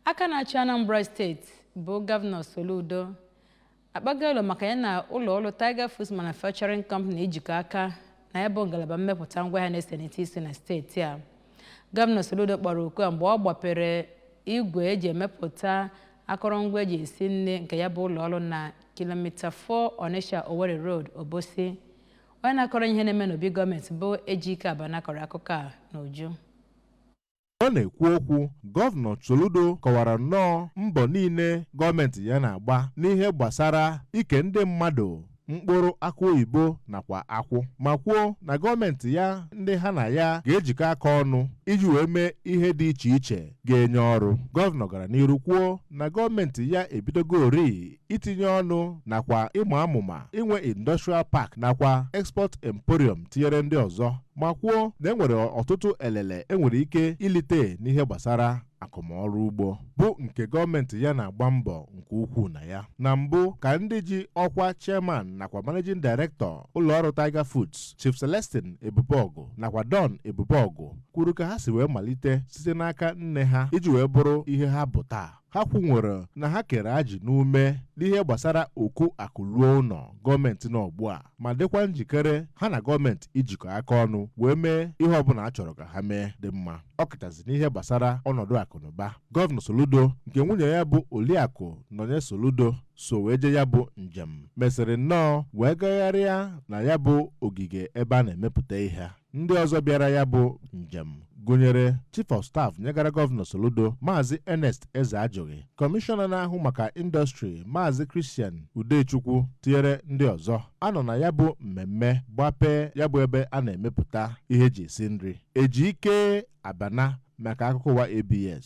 aka na-achị anambra steeti bụ gọvanọ soludo akpaga alo maka ya na ụlọ ọrụ tiger foods manufacturing company ijikọ aka na ya bụ ngalaba mmepụta ngwa ahịa na-esenite isi na steeti a gọvanọ soludo kpọrọ oku a mgbe ọ gbapere igwe eji emepụta akụrụngwa eji esi nri nke ya bụ ụlọ ọrụ na kilomita 4 Onitsha Owerri Road Obosi onye na-akọrọ ihe na-eme n'obi gọọmenti bụ Ejike Abana kọrọ akụkọ a n'uju Ọ na-ekwu okwu, Gọvanọ Soludo kọwara nnọọ mbọ niile gọọmenti ya na-agba n'ihe gbasara ike ndị mmadụ mkpụrụ akụ oyibo nakwa akwụ ma kwuo na gọọmenti ya ndị ha na ya ga-ejikọ aka ọnụ iji wee mee ihe dị iche iche ga-enye ọrụ. Gọvanọ gara n'iru kwuo na gọọmenti ya ebidogorịị itinye ọnụ nakwa ịma amụma inwe industrial park nakwa export emporium tinyere ndị ọzọ ma kwuo na enwere ọtụtụ elele enwere ike ilite n'ihe gbasara akụmọrụ ugbo bụ nke gọọmenti ya na-agba mbọ nke ukwuu na ya na mbụ ka ndị ji ọkwa chairman nakwa managing director ụlọọrụ Tiger Foods Chief Celestine Ebubeọgụ nakwa Don Ebubeọgụ kwuru ka ha si wee malite site n'aka nne ha iji wee bụrụ ihe ha bụ taa ha kwunwere na ha kere ajị n'ume n'ihe gbasara oku akụ luo ụnọ gọọmenti nọ ugbu a ma dịkwa njikere ha na gọọmenti ijikọ aka ọnụ wee mee ihe ọbụla a chọrọ ka ha mee dị mma ọ kachasị n'ihe gbasara ọnọdụ akụnụba gọvanọ soludo nke nwunye ya bụ oliakụ nọnye soludo so wee je ya bụ njem mesịrị nnọọ wee gagharịa na ya bụ ogige ebe a na-emepụta ihe ndị ọzọ bịara ya bụ njem gụnyere chief of staff nyegara gọvanọ soludo maazị ernest ezeajụghị kọmishọna na-ahụ maka indọstrị maazị christian udechukwu tinyere ndị ọzọ a nọ na ya bụ mmemme gbapee ya bụ ebe a na-emepụta ihe eji esi nri ejike abana maka akụkọ ụwa abs